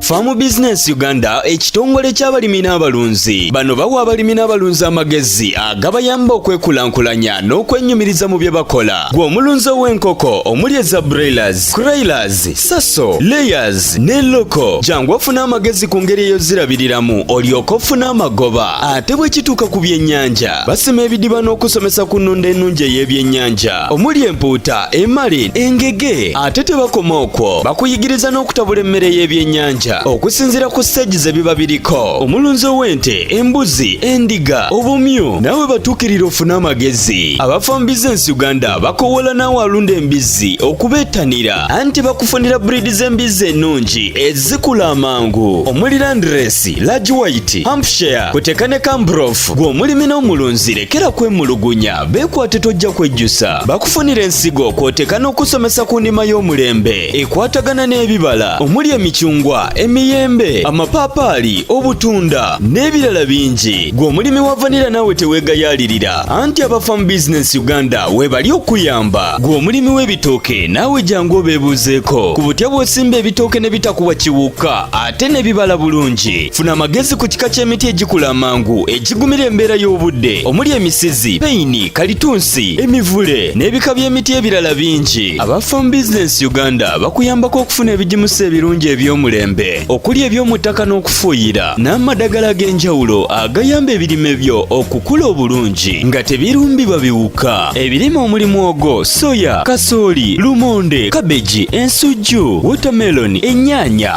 Farm Business Uganda ekitongole ky'abalimi n'abalunzi bano bawa abalimi n'abalunzi amagezi agabayamba okwekulaakulanya n'okwenyumiriza mu bye bakola gwe omulunzi ow'enkoko omuli eza broilers, croilers, saso, layers ne loko jangu ofuna amagezi ku ngeri eyozirabiriramu olyoka ofuna amagoba ate bwe kituuka ku byennyanja basima ebidiba n'okusomesa ku nnunda ennungi ey'ebyennyanja omuli empuuta emali engege ate tebakoma okwo bakuyigiriza n'okutabula emmere y'ebyennyanja okusinziira ku siteegi ze biba biriko omulunzi ow'ente embuzi endiga obumyu naawe batuukirira ofune amagezi abafa mu bizinensi uganda bakowoola naawe alunda embizzi okubeettanira anti bakufunira buriidi z'embizzi ennungi ezikula amangu omuli landiresi lagi wayiti hampshire kuteka ne kambrof gw'omulimi n'omulunzi lekera kwemulugunya Beekwate tojja kwejjusa bakufunira ensigo kw'oteeka n'okusomesa ku ndima y'omulembe ekwatagana n'ebibala omuli emicungwa emiyembe amapaapaali obutunda n'ebirala bingi gwe omulimi wa vanira naawe teweegayaalirira anti aba farm business uganda weebali okuyamba gwe omulimi w'ebitooke naawe jangu obeebuuzeeko ku butya bw'osimba ebitooke ne bitakuwa kiwuka ate ne bibala bulungi funa amagezi ku kika ky'emiti egikula amangu egigumira embeera y'obudde omuli emisizi peyini kalitunsi emivule n'ebika by'emiti ebirala bingi aba farm business uganda bakuyambako okufuna ebigimusa ebirungi eby'omulembe okuli eby'omu ttaka n'okufuuyira n'amadagala ag'enjawulo agayamba ebirime byo okukula obulungi nga tebirumbibwa biwuka ebirime omuli mwogo soya kasooli lumonde kabeji ensujju wotameloni ennyaanya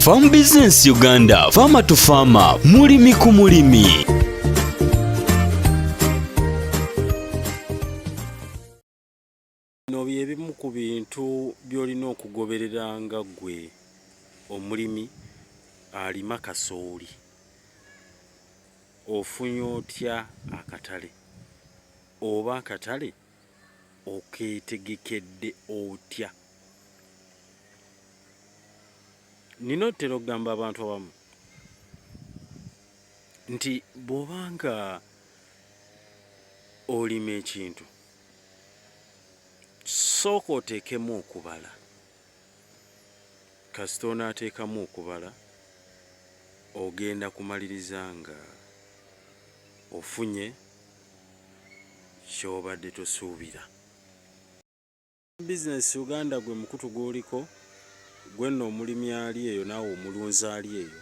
Farm Business Uganda, Farmer to Farmer, mulimi ku mulimi. Bino bye bimu ku bintu by'olina okugoberera nga ggwe omulimi alima kasooli. Ofunye otya akatale oba akatale okeetegekedde otya? Nina otera okugamba abantu abamu nti bw'oba nga olima ekintu sooka oteekemu okubala kasita onaateekamu okubala ogenda kumaliriza nga ofunye ky'obadde tosuubira. Aba bizinensi Uganda gwe mukutu gw'oliko, gwe nno omulimi ali eyo naawe omulunzi ali eyo,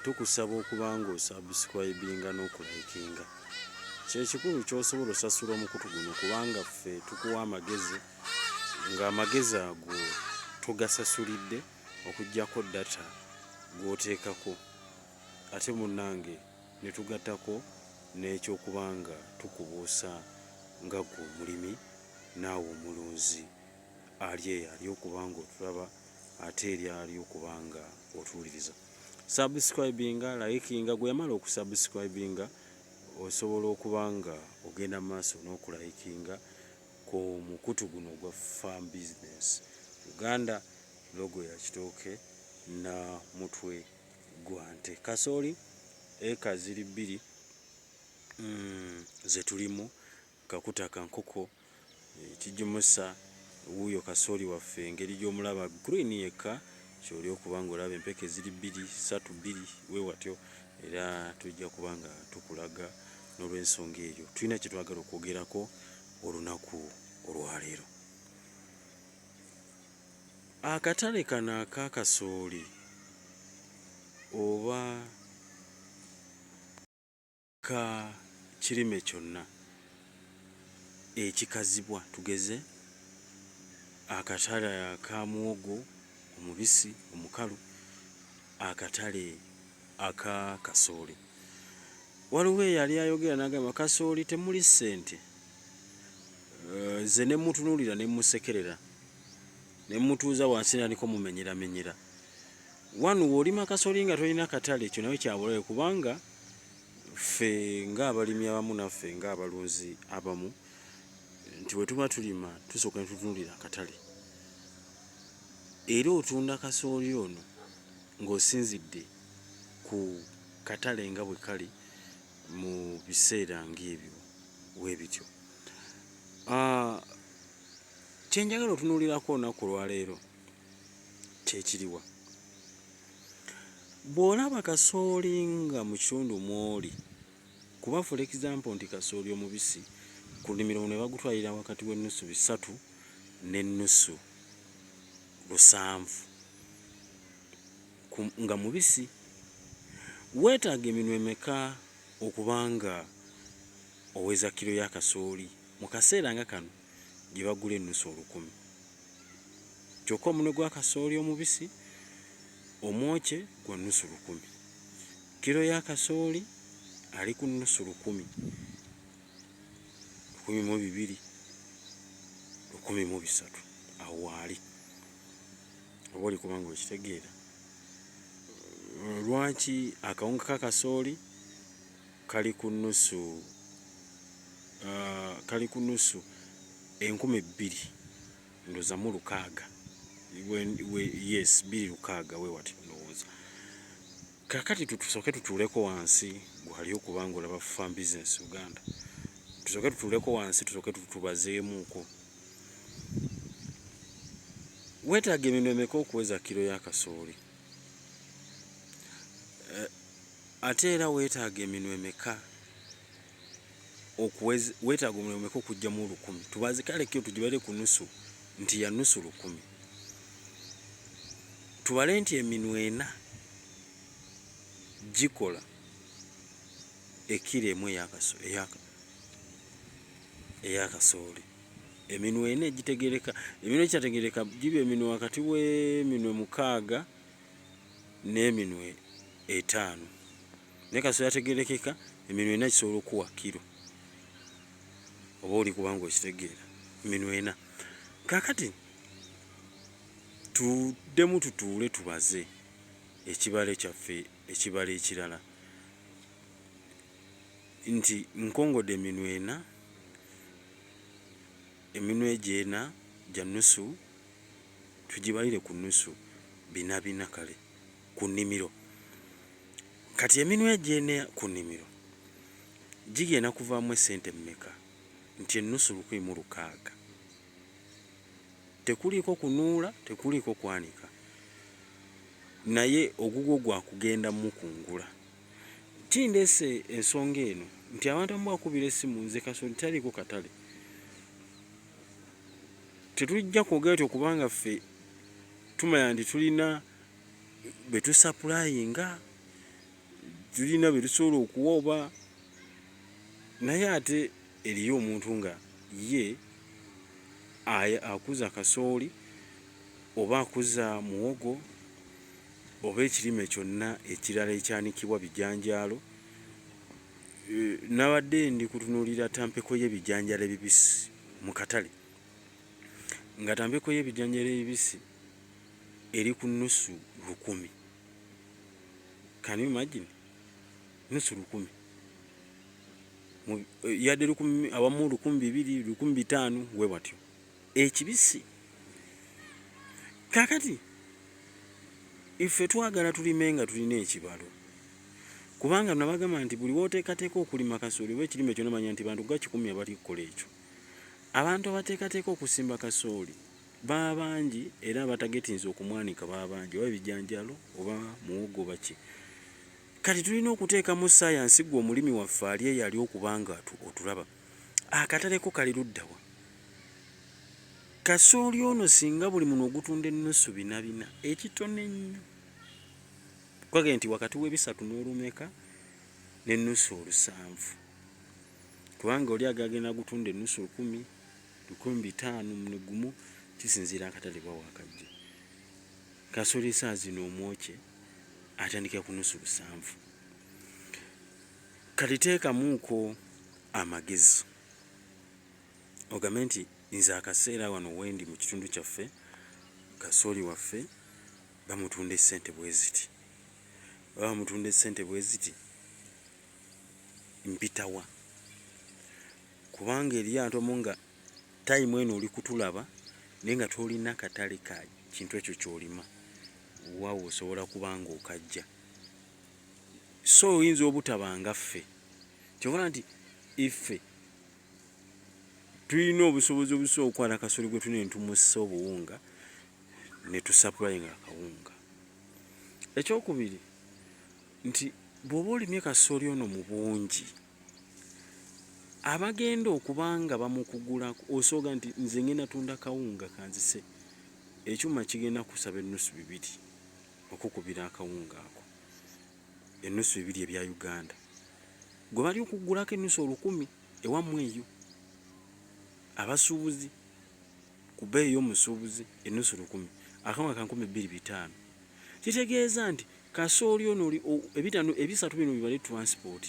tukusaba okuba ng'osabusikulaibiinga n'okulaikinga. Kye kikulu ky'osobola osasula omukutu guno kubanga ffe tukuwa amagezi ng'amagezi ago togasasulidde okuggyako data gw'oteekako ate munnange. Ne tugattako n'eky'okuba nga tukubuusa nga ggwe omulimi naawe omulunzi, ali eyo ali okuba nga otulaba ate eri ali okuba nga otuwuliriza. Subscribinga, likinga, gwe yamala okusubscribinga osobola okuba nga ogenda mu maaso n'okulayikinga ku mukutu guno ogwa Farm Business Uganda, logo ya kitooke na mutwe gwa nte. Kasooli eka ziri bbiri ze tulimu, kakuta ka nkoko, ekigimusa wuuyo kasooli waffe engeri gy'omulaba green yekka ky'oli okuba ng'olaba empeke ziri bbiri, ssatu, bbiri bwe watyo era tujja kuba nga tukulaga n'olwensonga eyo tulina kye twagala okwogerako olunaku olwaleero. Akatale kano aka kasooli oba ka kirime kyonna ekikazibwa tugeze akatale aka muwogo omubisi omukalu, akatale aka kasooli. Waliwo eyali ayogera n'agamba kasooli temuli ssente. nze eh, nemutunulira nemusekerera nemutuuza wansi naliko mumenyeramenyera wanu woolima kasoli nga tolina katale ekyo nawe kyabulabe kubanga ffe ngaabalimi abamu naffe ngaabalunzi abamu nti wetuba tulima tusooka netutunulira akatale era otunda kasooli ono ng'osinzidde ku katale nga bwe kali mu biseera ng'ebyo webityo Ah, kye njagala otunuulirako olunaku olwaleero kye kiriwa? Bw'olaba kasooli nga mu kitundu mw'oli, kuba for example nti kasooli omubisi ku nnimiro muno bagutwalira wakati w'ennusu bisatu n'ennusu lusanvu nga mubisi, weetaaga eminwe emeka okuba nga oweza kilo ya kasooli mu kaseera nga kano gye bagula ennusu olukumi kyokka omunwe gwa kasooli omubisi omwokye gwa nnusu lukumi. Kilo ya kasooli ali ku nnusu lukumi, lukumi mu bibiri, lukumi mu bisatu awo waali oba oli kuba nga okitegeera lwaki akawunga ka kasooli kali ku nnusu uh, kali ku nnusu enkumi bbiri ndoza mu lukaaga yes bbiri lukaaga wewati ndowooza kakati tutusooke tutuuleko wansi gwali okuba nga olaba farm business uganda tusooke tutuuleko wansi tusooke tutubazeemuuko weetaaga eminwe emeka okuweza kiro ya kasooli eh, Ate era weetaaga eminwe emeka okuwez, weetaaga omunwe omeka okujjamu olukumi? Tubaze kale kyo tugibale ku nusu nti ya nusu lukumi. Tubale nti eminwe ena gikola ekiro emu eya kasooli. Eminwe ena egitegereka, eminwe egitategereka giba eminwe wakati w'eminwe mukaaga. n'eminwe etaano naye kasita yategerekeka eminwe ena kisobola okuwa kiro oba oli kubanga okitegeera eminwe ena kakati tuddemu tutuule tubaze ekibale kyaffe ekibala ekirala nti nkongode eminwe ena eminwe gyena gya nusu tugibalire ku nusu bina bina kale ku nimiro kati eminwa egyene ku nimiro gigenda kuvaamu esente mumeka nti enusu lukumi mu lukaaga tekuliiko kunuula tekuliiko kwanika naye ogugwo gwa kugenda mukungula kindeese ensonga eno nti abantu amu bakubira essimu nze kasoli taliiko katale tetujja kwogera tyo kubanga ffe tumanya nti tulina betusapulayinga tulina betusobola okuwa oba naye ate eriyo omuntu nga ye akuza kasooli oba akuza muwogo oba ekirime kyonna ekirala ekyanikibwa bijanjaalo. Nabadde ndi kutunuulira tampeko y'ebijanjalo ebibisi mu katale nga tampeko y'ebijanjalo ebibisi eri ku nusu lukumi. Can you imagine? Nusu lukumi. Yadde lukumi awamu lukumi bibiri, lukumi bitaano we watyo. Ekibisi. Kakati ife twagala tulime nga tulina ekibalo. kubanga nabagamba nti buli woteekateeka okulima kasooli oba ekirime kyona manya nti bantu ga kikumi abali kukola ekyo abantu abateekateeka okusimba kasooli baba bangi era abatagetinza okumwanika baba bangi oba ebijanjalo oba muwogo baki kati tulina okuteekamu sayansi gwe omulimi waffe ali eyo ali okubanga otulaba akataleko kali luddawa kasooli ono singa buli muno ogutunda ennusu binabina ekitone nnyo Kukage nti wakati w'ebisatu n'olumeka n'ennusu olusanvu kubanga oli agagenda gutunda ennusu lukumi, lukumi bitaano muno gumu kisinziira akatale bwa wakajja. Kasoli esaa zino omwokye atandikira ku nusu lusanvu. Kati teekamuuko amagezi ogambe nti nze akaseera wano wendi mu kitundu kyaffe kasooli waffe Bamutunda essente bweziti. Baba bamutunda essente bweziti mpitawa? Kubanga eriyo abantu abamu nga time eno oli kutulaba naye nga tolina katale ka kintu ekyo kyolima waawo osobola kuba nga okajja so oyinza obutaba nga ffe kyobala nti iffe tulina obusobozi obusobola okwana kasoli gwe tuna entumusa obuwunga ne tusapulayinga akawunga ekyokubiri nti bwoba olimye kasoli ono mu bungi abagenda okuba nga bamukugula osooga nti nze ngenda tunda kawunga kanzise ekyuma kigenda kusaba ennusu bibiri okukubira akawunga ako enusu ebiri ebya Uganda gwe bali okugulako enusu olukumi ewamwe eyo abasubuzi kubeeyi yomusubuzi enusu lukumi akawunga kankumi biri bitano kitegeeza nti kasooli ono ebitano ebisatu bino bibale transport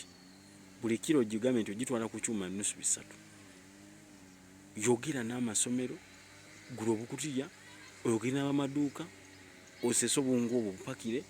buli kilo gigambe nti ogitwala kukyuma enusu bisatu yogera n'amasomero gula obukutiya oyogere n'abamaduuka osese obungu obwo bupakire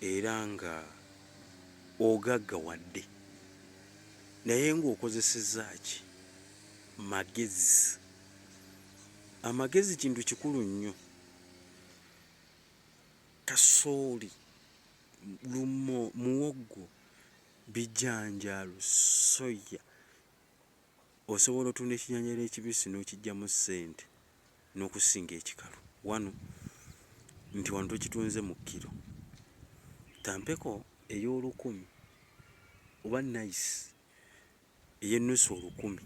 era nga ogaggawadde naye nga okozesezza ki magezi. Amagezi kintu kikulu nnyo. Kasooli, lumo, muwoggo, bijanjaalo, soya osobola otunda ekijanjaalo ekibisi n'okiggyamu ssente. n'okusinga ekikalu wanu nti wano tukitunze mu kkiro tampeko ey'olukumi oba nice ey'ennusu olukumi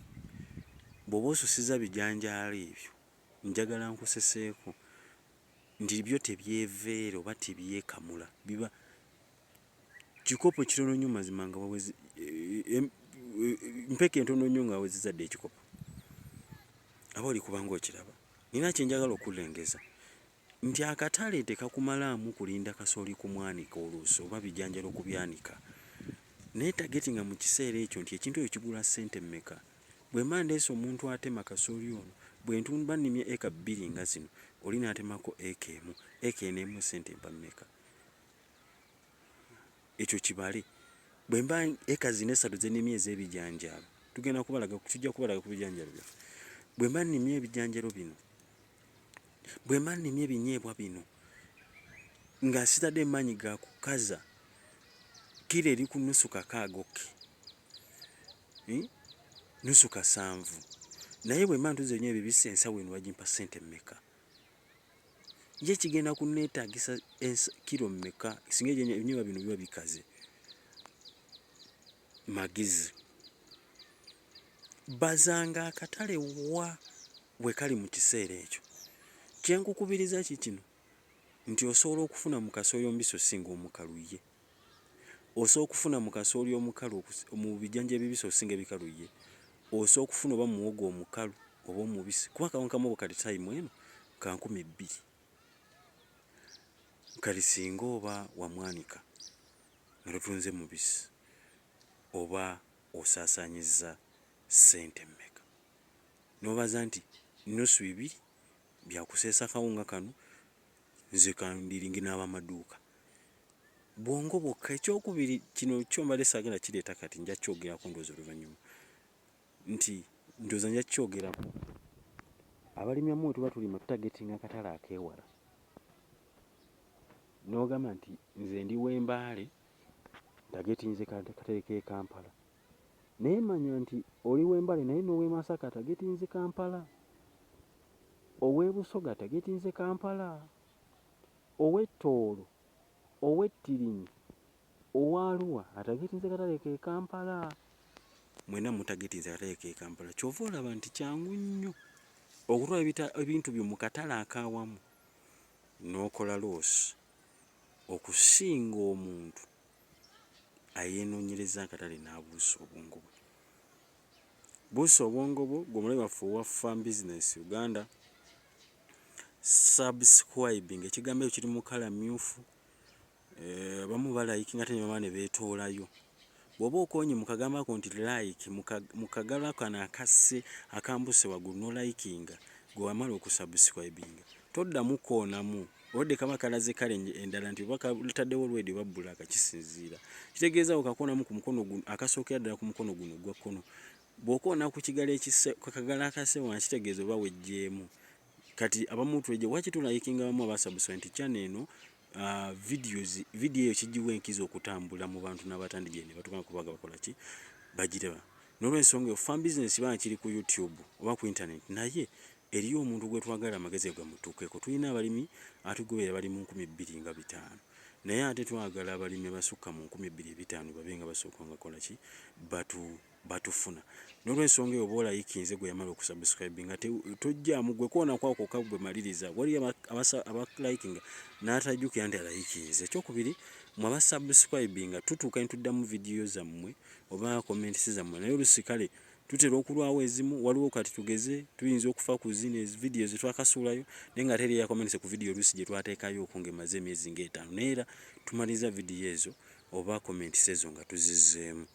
bw'oba osusiza bijanjaalo ebyo njagala nkuseseeko nti byo tebyeveera oba tebyekamula biba Kikopo kitono nyo mazima nga waweze mpeke ntono nyo nga wawezeza de kikopo aba oli kubanga okiraba nina kyenjagala okulengeza nti akatale tekakumala amu kulinda kasoli ku mwanika oluuso oba bijanjalo ku byanika naye tageti nga mu kiseera ekyo nti ekintu ekyo kigula sente mmeka bwe manda eso omuntu atema kasoli ono bwe ntunba nimye eka bbiri nga zino oli natemako eka emu eka enemu sente mpammeka ekyo kibale bwemba eka zino esatu zenimye ezebijanjaalo tugenda kubalaga tujja kubalaga ku bijanjalo byaffe bwemba nimye ebijanjalo bino bwemba nimye ebinyeebwa bino nga sitadde emaanyi ga kukaza kiro eri ku nusu kakaagoke hmm? nusu kasanvu naye bwemba ntuze nyo ebibisi ensawo eno bagimpa sente mmeka ye kigenda kunneetaagisa kiro mmeka singa ebinyeebwa bino biba bikaze magezi bazanga akatale wa we kali mu kiseera ekyo kye nkukubiriza ki kino nti osobola okufuna mu kasooyombisi osinga omukalu ye osa okufuna mu kasooli omukalu okusi mu bijanja ebibisi okusinga ebikalu yye osa okufuna oba mu muwogo omukalu oba omubisi kuba akawunga ka muwogo kali time eno ka nkumi bbiri kati singa oba wamwanika nga totunze mubisi oba osasanyizza sente mmeka nobaza nti nusu ibiri byakuseesa kawunga kano nze ka ndilingi n'abamaduuka. bwongo bwokka. Eky'okubiri, kino kyo mbadde saagala kireeta kati, nja kyogerako ndowooza oluvannyuma, nti ndowooza nja kukyogerako, abalimi abamu bwe tuba tulima tutagetinga akatale akeewala, n'ogamba nti nze ndi w'e Mbale ntagetinze katale k'e Kampala, naye manya nti oli w'e Mbale naye n'ow'e Masaka atagetinze Kampala, ow'e Busoga atagetinze Kampala. ow'e Tooro, ow'e Tirinyi, owa Arua atagetinze katale k'e Kampala. Mwena mutagetinze katale k'e Kampala ky'ova olaba nti kyangu nnyo okutwala ebintu byo mu katale ak'awamu n'okola loosi okusinga omuntu ayeenoonyereza akatale n'abuusa obwongo bwe. Buusa obwongo bwo, ggwe omulabe waffe owa Farm Business Uganda. subscribe nga ekigambo ekyo kiri mu kala myufu eh, abamu balayiki nga tenyuma ne beetoolayo bw'oba okonye mu kagambo ako nti like mu kagalo kano akasse akambuse waggulu nolayikinga gwe wamala okusubscribinga toddamu koonamu olwadde kaba kalaze kale endala nti oba kalitaddewo olwedi oba bbulaaka kisinziira kitegeeza wo kakoonamu ku mukono guno akasookera ddala ku mukono guno ogwa kkono Bw'okoona ku kigalo ekisse ku kagalo akase wansi tegeeza oba wejjeemu. Kati abamu tweje waki tu likinga abamu aba subsent channel eno uh, videos video eyo kijiwa enkizo okutambula mu bantu n'abatandi gyene batukana kubaga bakola ki bagireba n'olwensonga eyo fan business bana kiri ku youtube oba ku internet naye eriyo omuntu gwe twagala amagezi gamutuukeko tulina abalimi atugobera bali mu nkumi bbiri nga bitaano naye ate twagala abalimi abasukka mu nkumi bbiri ebitaano babe nga basooka nga kola ki batu batufuna nolwensonga eyo bola yikinze gwe yamala okusubscribe nga tojjamu gwe kona kwako kagwe maliriza wali abasa aba liking natajukira nti alayikinze kyokubiri mwa ba subscribe nga tutuka ntuddamu video za mwe oba comment siza mwe nayo lusikale tutera okulwawo ezimu waliwo kati tugeze tuyinza okufa ku zino ezi video zetwakasuulayo naye nga teri yakomense ku video oluusi gyetwateekayo okunga emaze emyezi ngaetaano naye era tumaliza video ezo oba comments ezo nga tuzizzeemu.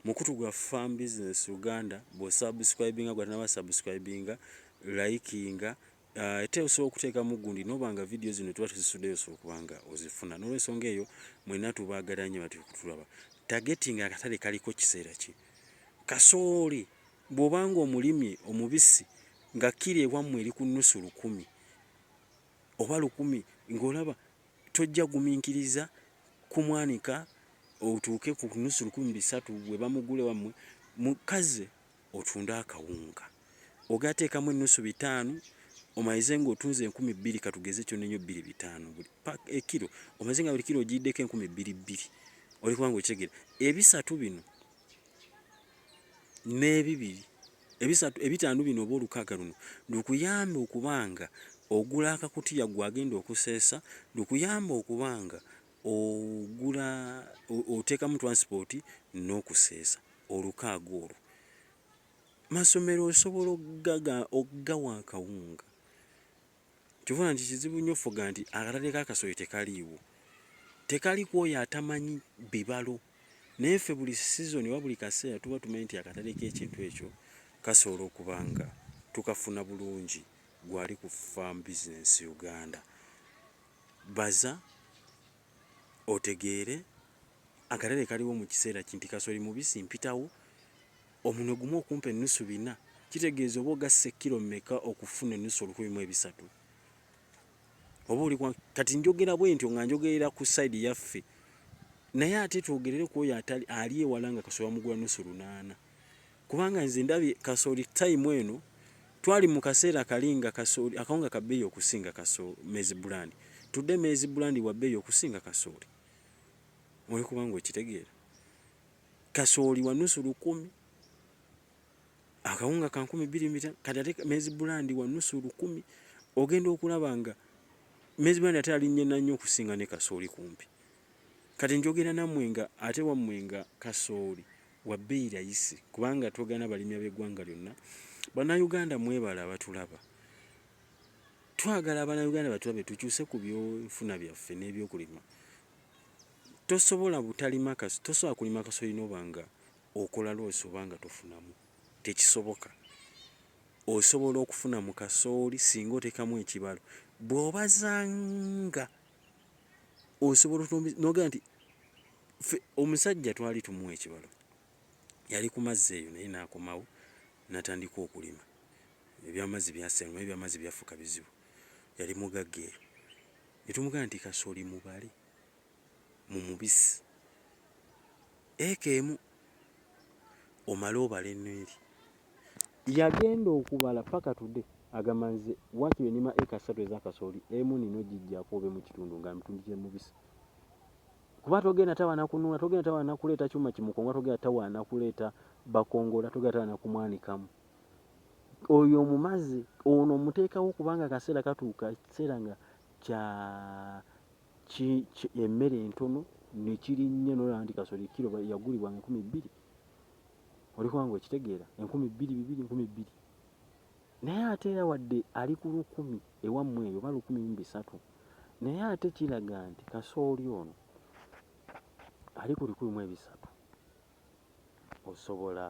Mukutu gwa Farm Business Uganda bwo subscribinga gwatanaba subscribinga, likinga ah, ate osobola okuteekamu gundi noba nga video zino tuba tuzisudeyo osobola okuba nga ozifuna. Nolwensonga eyo mwena tubagala nyo bati kutulaba. Targeting akatale kaliko kiseera ki? Kasooli bwobanga omulimye omubisi nga kiri ewammwe eri ku nusu lukumi oba lukumi ng'olaba Tojja guminkiriza kumwanika otuuke ku nusu lukumi bisatu webamugula ewamwe mukazi otunde akawunga ogee ateekamu ennusu bitaano omalize nga otunze enkumi bbiri katugeze kyonna enyo bbiri bitaano buli pack ekiro omalize nga buli kiro ogiyiddeko enkumi bbiri bbiri oli kubanga okitegera ebisatu bino n'ebibiri ebisatu ebitaano bino oba olukaaga luno lukuyambe okuba nga ogula akakutiya gwe agenda okuseesa, lukuyambe okuba nga ogula oteekamu transport n'okuseesa olukaaga olwo. Masomero osobola okugawa akawunga. Kyovola nti kizibu nyo offuga nti akatale ka kasooli tekaliiwo. Tekali kwoyo atamanyi bibalo. Naye ffe buli season oba buli kaseera tuba tumanyi nti akatale kekintu ekyo kasobola okuba nga tukafuna bulungi gwe ali ku farm business Uganda. Baza otegeere akatale kaliwo mukiseera ki nti kasooli mubisi mpitawo omunwe gumu okumpa ennusu bina kitegeeza oba ogasse ekkiro meka okufuna ennusu olukumi mu ebisatu oba oli kati njogera bwentyo nga njogerera ku side yaffe naye ate twogerere kwoyo ali ewala nga kasooli bamugula nusu lunaana Kubanga nze ndabye kasooli time eno twali mukaseera kali nga kasooli akawunga kabeeyi okusinga kasooli mezi bulandi tudde mezi bulandi wabeeyi okusinga kasooli oli kubanga okitegeera kasooli wanusu lukumi akawunga ka nkumi bbiri mita kati ate mezi bulandi wanusu lukumi ogenda okulaba nga mezi bulandi ate alinnye nannyo okusinga ne kasooli kumpi Kati njogera namwe nga ate wamwe nga kasooli wabeyi rayisi kubanga twogana balimi abegwanga lyona bana Uganda mwebale abatulaba twagala abana Uganda batulabe tukyuse ku byo nfuna byaffe nebyokulima tosobola butalima kasi tosobola kulima kasooli nobanga okola loosi obanga tofunamu tekisoboka osobola okufuna mu kasooli singa otekamu ekibalo bwobazanga osobola otombi noga nti fe omusajja twali tumuwa ekibalo yali ku mazzi eyo naye nakomawo natandika okulima ebyamazzi byasenga ebyamazzi byafuka bizibu yali mugagga eyo netumuga nti kasoli mubale mu mubisi eka emu omale obale eneri Yagenda okubala paka today agamba nze wakiri enima eka satu eza kasooli emu nina ojijako obe mukitundu nga mitundi jemubisi kuba togenda tawa nakununa togenda tawa nakuleta chuma kimukonga togenda tawa nakuleta bakongola togenda tawa nakumwanikamu oyo omumazi ono omutekawo kubanga kaseera katuuka ekiseera nga kya emmere entono nekirinnye nolaba nti kasooli kiro yagulibwa nga ekumi bbiri oli kubanga okitegeera enkumi bbiri bibiri nkumi bbiri naye ate era wadde ali ku lukumi ewammwe eyo oba lukumi mu bisatu naye ate kiraga nti kasooli ono ali ku bikumi mu ebisatu osobola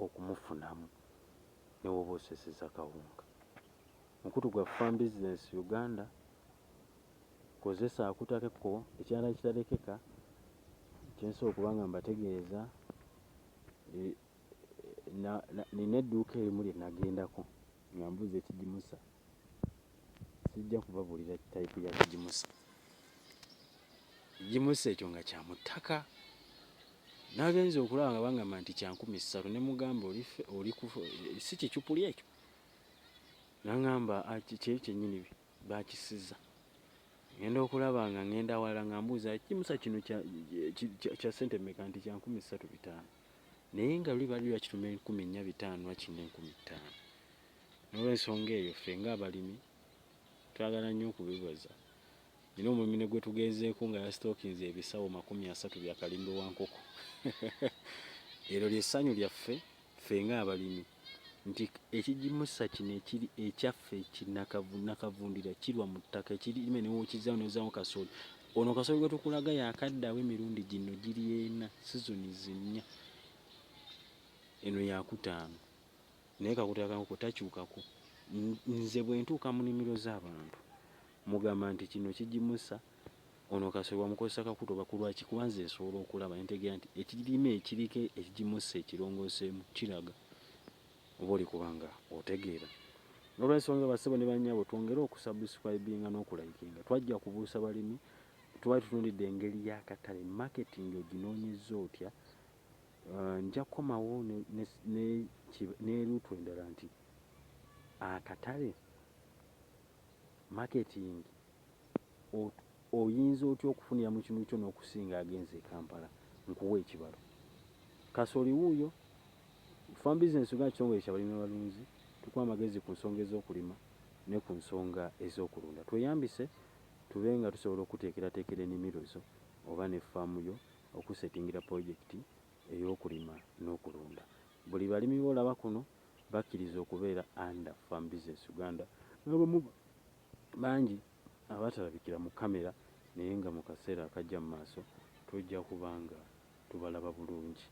okumufunamu ne woba oseseza kawunga mukutu gwa farm business uganda Kozesa akutakekko ekirala ekitarekeka kyensobola okuba nga mbategeeza e, nina edduuka erimu lye nagendako nga mbuuza ekigimusa sijja kubabuulira tayipu ya kigimusa ekigimusa ekyo nga kya mu ttaka nagenza okulaba nga bangamba nti kyankumi ssatu ne mugamba oli si kicupuli ekyo nangamba ah, kyenyini Baakisiza. Ngenda okulaba nga ngenda awalala nga mbuuza ekigimusa kino kya ssente mmeka nti kya nkumi ssatu bitaano. Naye nga luli baali bakituma enkumi nnya bitaano wakiri n'enkumi ttaano. N'olwensonga eyo ffe ng'abalimi twagala nnyo okubibaza. Nnina omulimi ne gwe tugenzeeko nga yasitookinze ebisawo makumi asatu bya kalindo wa nkoko. Eryo ly'essanyu lyaffe. ffe ng'abalimi nti ekigimusa kino ekiri ekyaffe kinakavundira kirwa mu ttaka ekirime newokizaawo nozaawo kasooli ono kasooli gwe tukulaga yakaddawo emirundi gino giri ena sizoni zinnya eno yakutaano naye kakutakankoko takyukako nze bwe ntuuka mu nimiro z'abantu mugamba nti kino kigimusa Ono kasoli wamukozesa kakuta oba kulwaki kuba nze nsobola okulaba entegera nti ekirime ekiriko ekigimusa ekirongosemu kiraga oba olikuba nga otegeera nolwensonga basebo ne banyabo twongere okusubscribinga nokulikinga twajja kubuusa balimi twali tutunulidde engeri yakatale marketing oginonyeza otya uh, nja kukomawo neruutu endala nti akatale marketing oyinza otya okufunira mu kinuukyo n'okusinga agenze e Kampala? Nkuwe ekibalo. Kasooli wuuyo. Farm Business Uganda kitongole kya balimi n'abalunzi. Tukuwa amagezi ku nsonga ez'okulima ne ku nsonga ez'okulunda. Tweyambise tube nga tusobola okukuteekerateekera enimiro zo oba ne ffaamu yo okukusetingira pulojekiti ey'okulima n'okulunda. Buli balimi b'olaba kuno bakkiriza okubeera under Farm Business Uganda n'abamu Bangi abatalabikira mu camera naye nga mu kaseera akajja mu maaso tujja kuba nga tubalaba bulungi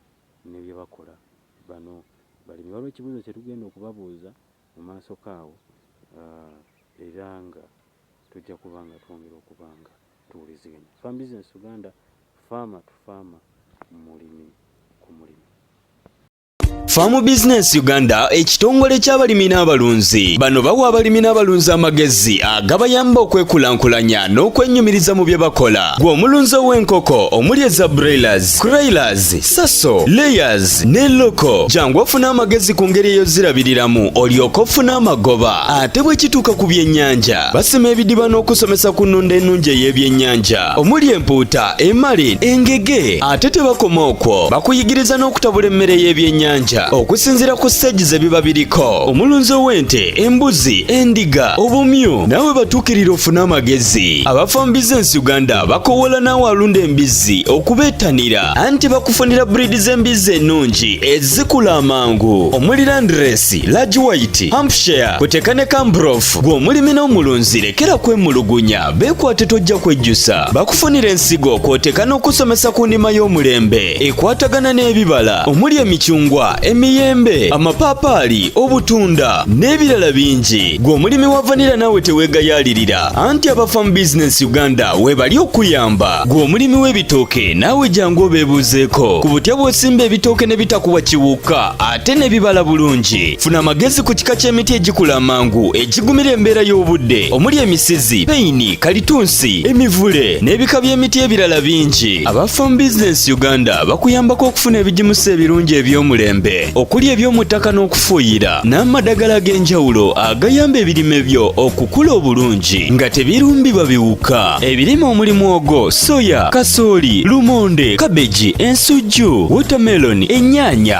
ne bye bakola bano balimi. Waliwo ekibuuzo kye tugenda okubabuuza mu maasoko awo era nga tujja kuba nga twongera okuba nga tuwuliziganya. Farm Business Uganda, Farmer to Farmer, Mulimi ku Mulimi. Farm Business Uganda ekitongole ky'abalimi n'abalunzi bano bawa abalimi n'abalunzi amagezi agabayamba okwekulaakulanya n'okwennyumiriza mu bye bakola gwe omulunzi ow'enkoko omuli eza broilers, croilers, saso, layers ne loko jangu ofune amagezi ku ngeri eyozirabiriramu olyoka ofuna amagoba ate bwe kituuka ku byennyanja basima ebidiba n'okusomesa ku nnunda ennungi ey'ebyennyanja omuli empuuta emali engege ate tebakoma okwo bakuyigiriza n'okutabula emmere y'ebyennyanja okusinziira ku siteegi ze biba biriko omulunzi ow'ente embuzi endiga obumyu nawe batuukirira ofune amagezi abafambiza ensi uganda bakowoola naawe alunda embizzi okubeettanira anti bakufunira buriidi z'embizzi ennungi ezikula amangu omuli landresi large white hampshire kuteeka ne kambrof gw'omulimi n'omulunzi lekera kwemulugunya beekwate tojja kwejjusa bakufunira ensigo kwoteka n'okusomesa ku ndima y'omulembe ekwatagana n'ebibala omuli emicungwa emiyembe amapaapaali obutunda n'ebirala bingi gwe omulimi wa vanira naawe teweegayaalirira anti abafa mu bizinensi uganda weebali okuyamba gwe omulimi w'ebitooke naawe jangu obeebuuzeeko ku butya bw'osimba ebitooke ne bitakuwa kiwukka ate n'ebibala bulungi funa amagezi ku kika ky'emiti egikula amangu egigumira embeera y'obudde omuli emisizi peyini kalitunsi emivule n'ebika by'emiti ebirala bingi aba farm business uganda bakuyambako okufuna ebigimusa ebirungi eby'omulembe okuli eby'omu ttaka n'okufuuyira n'amadagala ag'enjawulo agayamba ebirime byo okukula obulungi nga tebirumbibwa biwuka ebirime omuli mwogo soya kasooli lumonde kabeji ensujju wotameloni ennyaanya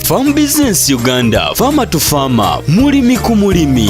Farm Business Uganda, Farmer to Farmer, mulimi ku mulimi.